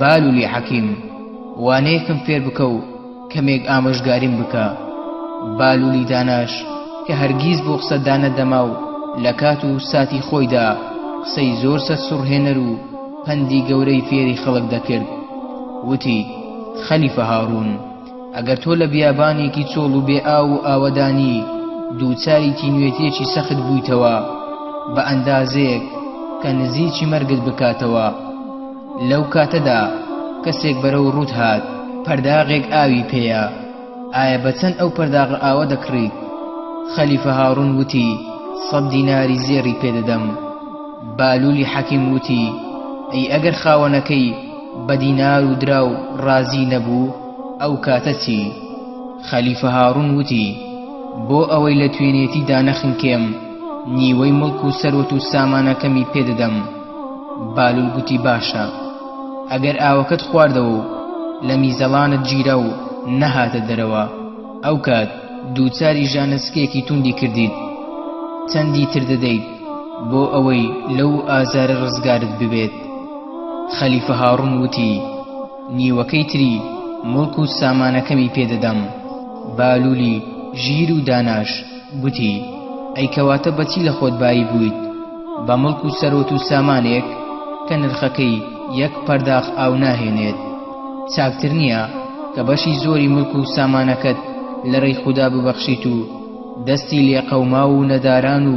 بالولی حەکیم، وانەیەکم فێر بکە و کەمێک ئامۆژگاریم بکە. بالولی داناش کە هەرگیز بۆ قسە دانەدەما و لە کات و ساتی خۆیدا قسەی زۆر سەرسوڕهێنەر و پەندی گەورەی فێری خەڵک دەکرد، وتی، خەلیفە هاڕوون! ئەگەر تۆ لە بیابانێکی چۆڵ و بێ ئاو و ئاوەدانی دووچاری تینوێتیەکی سەخت بوویتەوە بە ئەندازەیەک کە نزیکی مەرگت بکاتەوە لەو کاتەدا کەسێک بەرەو ڕووت هات پەرداغێک ئاوی پێیە ئایا بە چەند ئەو پەرداغە ئاوە دەکڕیت خەلیفە هاڕون وتی سەد دیناری زێڕی پێدەدەم بالولی حەکیم وتی ئەی ئەگەر خاوەنەکەی بە دینار و دراو ڕازی نەبوو ئەو کاتە چی؟ خەلیفە هاڕون وتی، بۆ ئەوەی لە توێنێتی دانەخنکێم نیوەی مڵک و سەروەت و سامانەکەمی پێ دەدەم. بالول گوتی باشە. ئەگەر ئاوەکەت خواردەوە و لە میزەڵانت گیرا و نەهاتە دەرەوە، ئەو کات دووچاری ژانسکێکی توندی کردیت. چەندی تر دەدەیت بۆ ئەوەی لەو ئازارە ڕزگارت ببێت؟ خەلیفە هاڕون وتی، نیوەکەی تری موڵک و سامانەکەمی پێ دەدەم. بالولی ژیر و داناش گوتی، ئەی کەواتە بە چی لە خۆت بایی بوویت؟ بە موڵک و سەروەت و سامانێک کە نرخەکەی یەک پەرداخ ئاو ناهێنێت؟ چاکتر نییە کە بەشی زۆری موڵک و سامانەکەت لە رێی خودا ببەخشیت و دەستی لێقەوماو و نەداران و